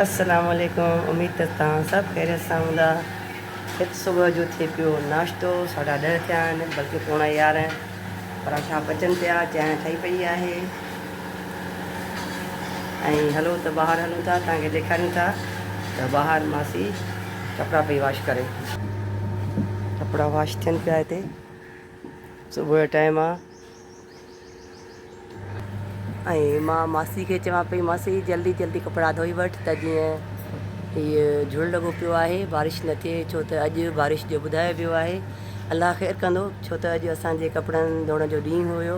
السلام عليڪم اميد ته تهان سڀ خيريت سان هوندا هت صبح جو ٿي پيو ناشتو ساڍا ڏهه ٿيا آهن بلڪه پوڻا يارهن پراٺا پچن پيا چانهه ٺهي پئي آهي ۽ هلو ته ٻاهر هلون ٿا توهان کي ڏيکاريون ٿا ته ٻاهر ماسي ڪپڙا پئي واش ڪري ڪپڙا واش ٿين پيا هتي صبح جو ٽائيم آ ۽ مان ماسي کي چوان پئي ماسي جلدي جلدي ڪپڙا ڌوئي وٺ ته جيئن هيء جھل لڳو پيو آهي بارش نه ٿئي ڇو ته اڄ بارش جو ٻڌايو ويو آهي الله خير ڪندو ڇو ته اڄ اسان جي ڪپڙن ڌوئڻ جو ڏينهن هيو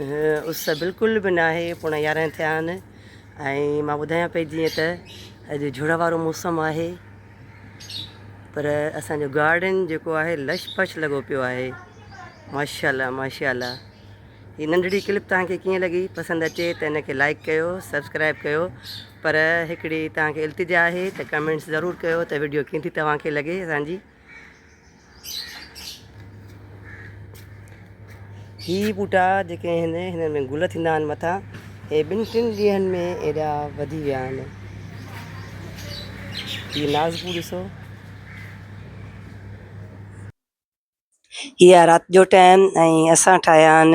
اس بلڪل به ناهي پوڻا يارنهن ٿيا آهن ۽ مان ٻڌايان پئي جيئن ته اڄ جھڙ وارو موسم آهي پر اسانجو گارڊن جيڪو آهي لش پش لڳو پيو آهي ماشاء الله ماشاء الله هي ننڍڙي ڪلپ توهان کي ڪيئن لڳي پسند اچي ته ان کي لائڪ ڪيو سبسڪرائب ڪيو پر هڪڙي توهان کي التجا آهي ته ڪمينٽس ضرور ڪيو ته ويڊيو ڪيئن ٿي توهان کي لڳي اسانجي هي ٻوٽا جيڪي آهن هنن ۾ گل ٿيندا آهن مٿان هي ٻن ٽن ڏينهن ۾ ايڏا وڌي ويا آهن هي نازڪو ڏسو هي رات جو ٽائم ۽ اسان ٺاهيا آهن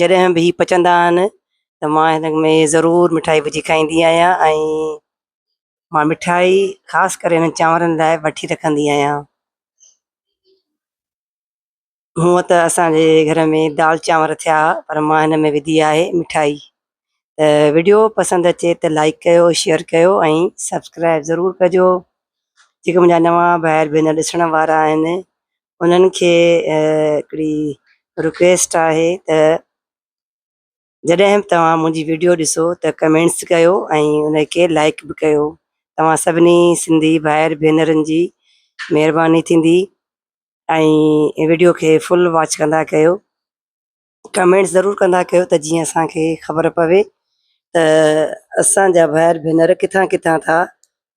جڏهن به هي پچندا آهن ته مان هن ۾ ضرور مٺائي وجهي کائيندي آهيان ۽ مان مٺائي خاص ڪري هنن چانورن لاء وٺي رکندي آهيان هونء ته اسانجي گهر ۾ دال چانور ٿيا پر مان هن ۾ وڌي آهي مٺائي ته وڊيو پسند اچي ته لائڪ ڪيو شيئر ڪيو ۽ سبسڪرائب ضرور ڪجو جيڪي منهنجا نوان ڀائر ڀينر ڏسڻ وارا آهن انهن کي هڪڙي رڪويسٽ آهي ته جڏهن به توهان منهنجي وڊيو ڏسو ته ڪمينٽس ڪيو ۽ ان کي لائڪ به ڪيو توهان سڀني سنڌي ڀائر ڀينرن جي مهرباني ٿيندي ۽ وڊيو کي فل واچ ڪندا ڪيو ڪمينٽس ضرور ڪندا ڪيو ته جيئن اسانکي خبر پوي ته اسانجا ڀائر ڀينر ڪٿان ڪٿان ٿا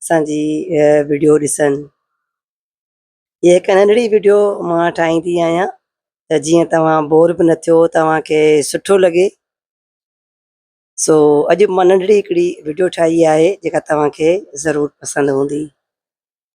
اسانجي وڊيو ڏسن هي هڪ ننڍڙي وڊيو مان ٺاهيندي آهيان ته جيئن توهان بور به نه ٿيو توهان کي سٺو لڳي سو اڄ مان ننڍڙي هڪڙي وڊيو ٺاهي آهي جيڪا توهان کي ضرور پسند هوندي